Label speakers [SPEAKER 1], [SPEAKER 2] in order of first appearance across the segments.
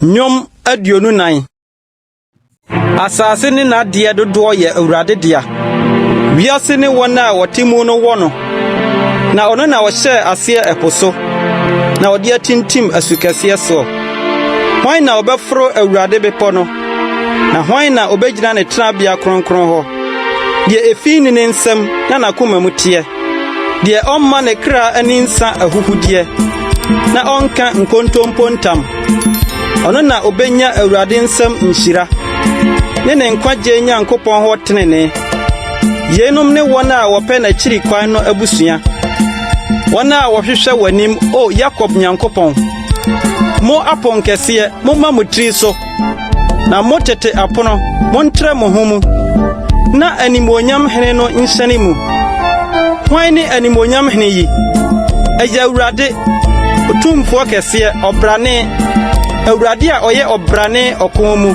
[SPEAKER 1] Nnwom aduonu nan. Asase ne n'adeɛ dodoɔ yɛ Awurade dea. Wiase ne wɔn a wɔte mu no wɔ no. Na ɔno na ɔhyɛɛ aseɛ ɛpo so, na ɔde atintim asukɛseɛ soɔ. Hwan na ɔbɛforo Awurade bepɔ no? Na hwan na obegyina ne tenabea kronkron hɔ? Deɛ efi ne ne nsam na n'akoma mu teɛ, deɛ ɔmma ne kra ani nsa ahuhudeɛ, na ɔnka nkontompo ntam. Ɔno na obenya Awurade nsam nhyira, ne ne nkwagye Nyankopɔn hɔ tenenee. Yeinom ne wɔn a wɔpɛ n'akyiri kwan no abusua, wɔn a wɔhwehwɛ w'anim, O Yakob Nyankopɔn. Mo aponkɛseɛ, momma mo tiri so. Na mo tete apono, montrɛ mo ho mu, na animuonyam hene no nhyɛne mu. Hwan ne animuonyam hene yi? Ɛyɛ Awurade, Otumfoɔ kɛseɛ, ɔbrane, Awurade a ɔyɛ ɔbrane ɔko mu.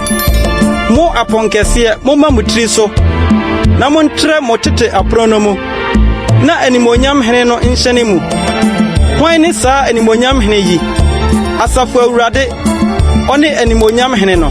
[SPEAKER 1] Mo apɔnkɛseɛ, momma mo tiri so, na montrɛ mo tete apono no mu, na animuonyam hene no nhyɛne mu. Hwan ne saa animuonyam hene yi? Asafo Awurade, ɔne animonyam hene no.